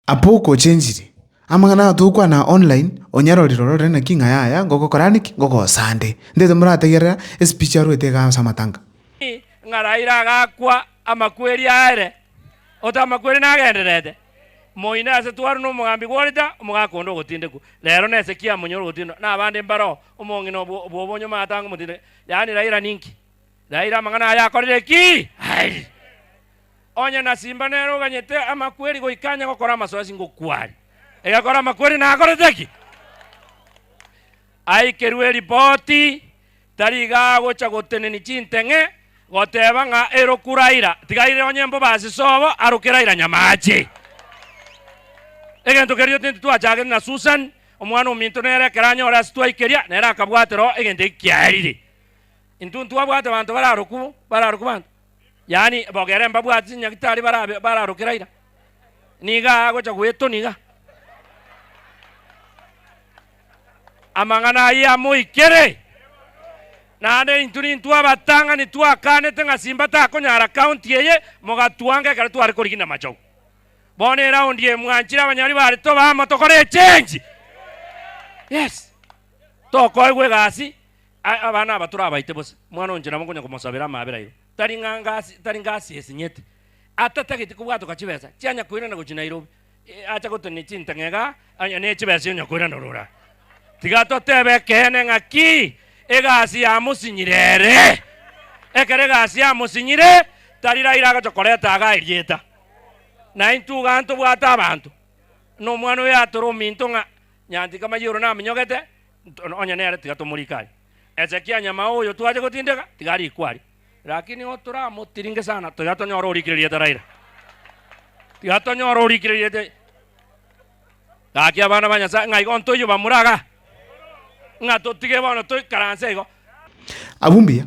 Abwo okochenchirie, amang'ana aya togokwana online, onyarorire ororere naki ng'a yaya ngogokorande ki? Ngogosande. Ntaito morategerera espeech arwete igaa ase amatanga. Ng'a Raila agakwa amakweri aere, ote amakweri nagendererete, moino ase twaru nomogambi gworita, omogaka onde ogotindekwa, rero nese ki amonyore ogotindwa nabande mbaroo, omong'ina obwo bw'obonyuma atange omotindeke, yaani Raila ninki? Raila amang'ana aya akorire ki? Airi. Onye na Simba nere oganyete amakweri goika anye gokora amasoesi ngokwari. Egekora amakweri nakorete ki? Aikerwe eripoti, tari iga agocha goteneni chinteng'e goteba ng'a eroku Raila, tiga aire onye mbobasi sobo aroke Raila nyamache. Egento keria tindi twachagete na Susan, omwana ominto nere ekero anyore ase twaikeria nere akabwatera oo egento eki kiaerire. Intwe ntwabwate banto bararoku, bararoku banto. yaani bogere mbabwati chinyagitari barabe bararokera ira, niga agocha goetoni iga. Amang'ana ayio amoikere, naende intwe nintwe abatang'ani twakanete ng'a Simba takonyara county eye, mogatwanka ekero tware korigina Machogu. Bono eround eye mwanchire abanyori bare tobe amo tokore echange. Yes, tokoegwa egasi, Aye abana aba torabaite bosa, mwana o inche nabo nkonya komosabera amaabera igo, tari ng'a ngasi, tari ngasi esinyeti, atatageti kobwatoka chibesa chianya koirana gochia Nairobi, ee, acha gotonia chintang'ega onye ne chibesa onya koirana orora. Tiga totebe ekeene ng'aki egasi yamosinyire ere. Ekero egasi yamosinyire, tari Raila agocha koreta agaa erieta. Naintwe igaa ntobwate abanto, nomwana oyo atore ominto ng'a Nyantika Mayiro naminyogete, Onye nere tiga tomorike aye. Hezekia nyamao oyo twache gotindeka, tiga arikwe aria. Lakini nigo toramotiringe sana, tiga tonyore orikireriete Raila. Tiga tonyore orikireriete. Gaki abana ba Nyasaye, ng'a igo ntoiyo bamura iga, ng'a totige bono toikaranse igo. Abwo mbuya.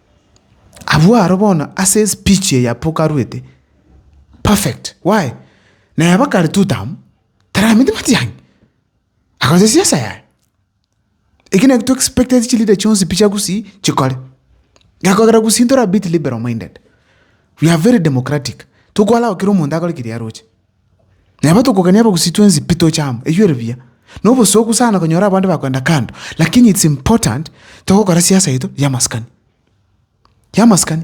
Abwo aro bono ase espeech eye apokarwete perfect why? Naye bakare two term tarameti matiang'i agocha siasa yaye. Eki naki to expect ase chileader chionsi pi chia Gusii chikore. Gekogera Gusii ntore a bit liberal minded. We are very democratic, tokwara kera omonto akore keria aroche. Na eba tokogania abagusii twensi pi toche amo, eyio ere buya. Na obosooku sana konyora abande bakoenda kando, lakini it's important togokora siasa yaito y'amaskani, y'amaskani.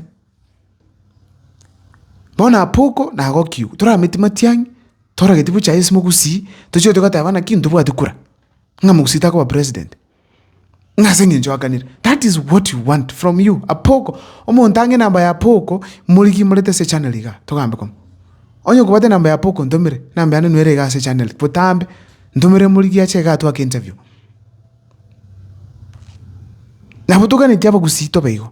Bono Apoko nagokigwa, torameti matiang'i, torageti bochaye ase mogusii, tochire togateba naki ntobwati kura, ng'a mogusii takoba president. ng'a ase eng'encho aganire that is what you want from you apoko omonto ang'e enamba ya apoko morigie morete ase echannel igaa togambe koma onye okobwate enamba ya apoko ntomere enamba yane nwere igaa ase echannel botambe ntomere morigie ache igaa twake interview nabo toganetie abagusii tobe igo.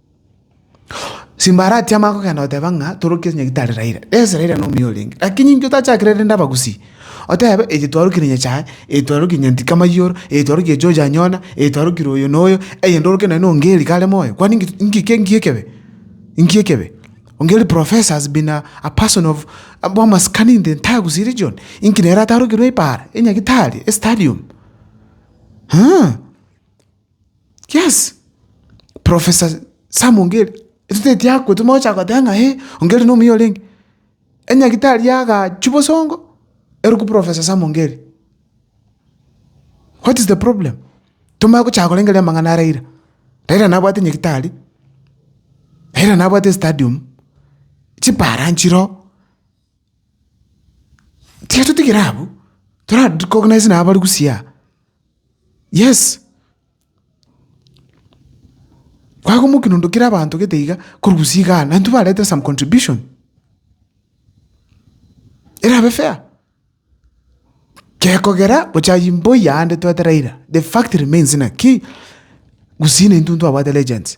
Simba aratie amang'ana kogenda goteba ng'a torokie onye gitari Raila. Yes Raila nomuya orenge lakini intwe tachakire rende abagusii, otebe eye twarokire nyasaye, eye twarokire nyantika mayoro, eye twarokire George Anyona, eye twarokire oyo na oyo, eye ndoroke naende ongeri kare moyo, kwani nki nki nki ekebe? Nki ekebe? Ongeri professor has been a a person of bwa amasikani in the entire Gusii region, inki nere atarokirwe ebaara, enyagitari, estadium? Eeh. Yes, Professor Sam Ongeri, etoteti akwo timocha gocha goteba ng'a eh, Ongeri nomuya orenge. Enyagitari yagaachwa bosongo, erokwa Professor Sam Ongeri. What is the problem? Tomanye gochaka korengereria amang'ana a Raila. Raila nabwate enyagitari, Raila nabwate estadium, chipara nchire oo. Tiga totigere abwo, tora recognise nabo bari gusii aa. Yes, kwagomokia nonto kera abanto gete iga, korusia igaa, na intwe barete some contribution erabe fair. Gekogera gocha aywo mboiya aande toete Raila, the fact remains naki, gusii naintwe ntwabwate legends.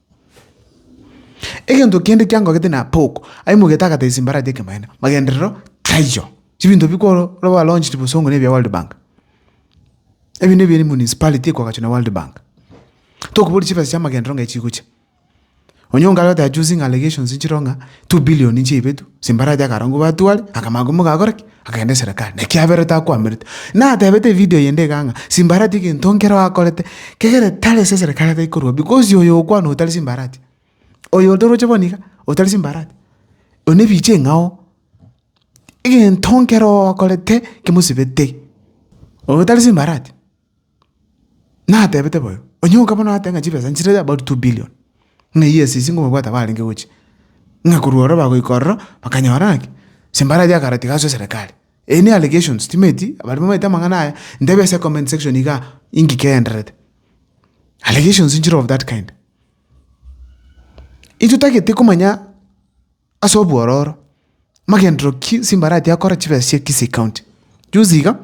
Egento kende kiangogete na Pauk aimoigete agatebia Simbarati ekemanyererio, magenderero taiyo. Chibinto bi kworo ba launched bosongo ne bia World Bank. Ebi ne bia municipality ekoagachwa na World Bank. Tokoboria chibesa chia magenderero ng'ai chigocha. Onyonga aria goteba using allegations nchireo ng'a two billion nchiaibetwe, Simbarati akarora ng'o batware, akamanya ng'o mogakora ki. Agenda eserekari, naki aberete akwamerete. Natebete evideo eyende igaa ng'a, simbarati egento nkero akorete, kegere tari ase eserekari atai korwa because oyo okwana otari simbarati, oyo otoroche bono iga, otari simbarati, oyio nebicha eng'ao, egento nkero akorete kimosibete, oyo otari simbarati. Natebete boyo, onye okaba noate ng'a chibesa nchire about two billion, ng'a eyio esisi nkobabwata barenge gochia, ng'a korwa ororo bagoika ororo bakanyora ng'aki? Ase mbarache akare tiga aswe serekari. Eyi ne allegations, timeti baria bamaete amang'ana aya, ntebia ase comment section igaa, engiki egendererete. Allegations nchire of that kind. Intwe totagete komanya ase obwororo, amagenderero ki Simbarati akora chibesa chia Kisii County. Juzi iga,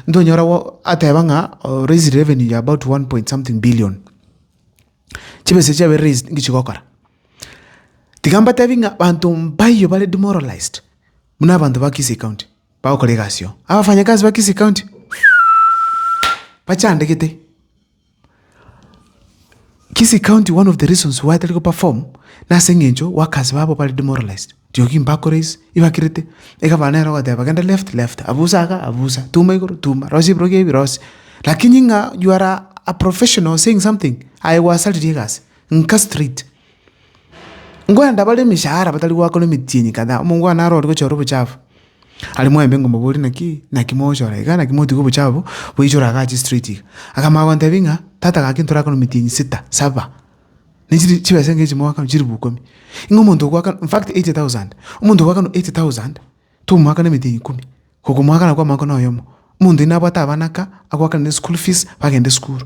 ntonyora go ateba ng'a o raised revenue ya about one point something billion. Chibesa echi chiabaire raised nki chigokora? Tiga mbatebi ng'a banto mbayo bare demoralized buna abanto ba Kisii County bagokora egasi oo. Abafanyakazi ba Kisii County, bachandegete. Kisi county one of the reasons why tari go perform na ase engencho workers babo bari demoralized riogi mbakore isi ibakirite egavana ero ogoteba genda left left abusa iga abusa tuma igoro tuma rosia ebirogo ebi rosia lakini ng'a you are a professional saying something aye gwasariri egasi nka straight nkwenda bare emechara batari gwakora emetienyi kadhaa omongo one arori gochora obochafu. Aria mwaimbe ngomoboria naki naki mogochora iga, naki motiga obochafu boichore agache straight iga. Akamanya gontebia ng'a tata gaki ntorakane metienyi sita, saba, ne chiri chibesa enga echi moakano chilifu ikomi. Ng'a omonto ogoakana in fact eighty thousand, omonto ogoakana eighty thousand, tomoakana emetienyi ikomi, gokomoakana kwa omwaka na oyomo. Omonto oyio nabwate abana aka, agoakane ne school fees, bagende esukuru.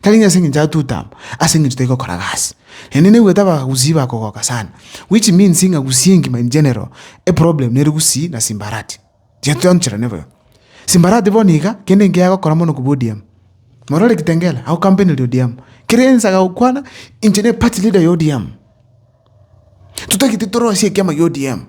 Tari ng'a ase engencho atuta amo, ase engencho tari gokora gasi. Naende naigwete abagusii bakogoka sana, which means ng'a gusii engima in general, eproblem nere gusii na simbarati. Chiatoncherane boigo. Simbarati bono iga, kende nkere agokora mono kobua ODM. Morore Kitengela, agokampeneria ODM. Kera ense agagokwana, inche ne party leader ya ODM. Totagete torosie ekiama kia ODM.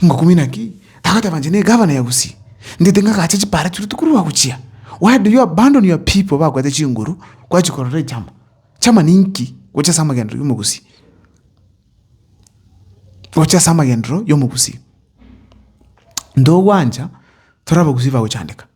Ngokumi naki? Tagoteeba inche ne gavana ya Gusii. Ndete ngagache chipara chire otuko rwagochia. Why do you abandon your people bakwete chinguru kwachia korora echama? Chama ninki? Gocha ase amagenderero ya omogusii. Gocha ase amagenderero ya omogusii. Ntogwancha tore abagusii bagochandeka.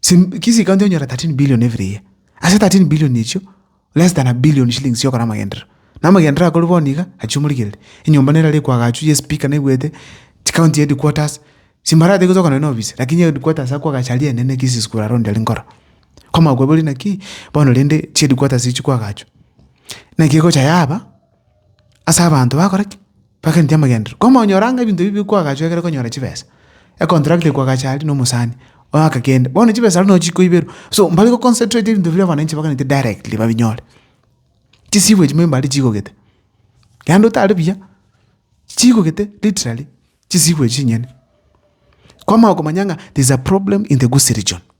Sim- kisi county onyora 13 billion every year ase 13 billion echio less than a billion shillings chiokora amagenderero na amagenderero akorwa bono iga achia omorigereri enyomba nero erekwa agachwa ya espeaker naigwete chi county headquarters simbarate gocha okona nonye na ofisi lakini headquarters akwa agacha aria enene kisi school around aria nkoro kwamanya kwabori naki bono rende chi headquarters echi kwagachwa naki egocha yaba. ase abanto bakora ki? Bageneti amagenderero. Koma onyore ang'e ebinto ebi bikwagachu ekero okonyora chibesa, econtract ekwagache aria na omosani, oyoka kende, bono chibesa aria nochi chikoiberwa. So mbari go concentrate ebinto biria abananchi bageneti directly babinyore. Chisigo echi memba aria chigogete, yaani otare buya, chigogete literally chisigo echi chinyene. Kwamanya okomanya ng'a there is a problem in the Gusii region.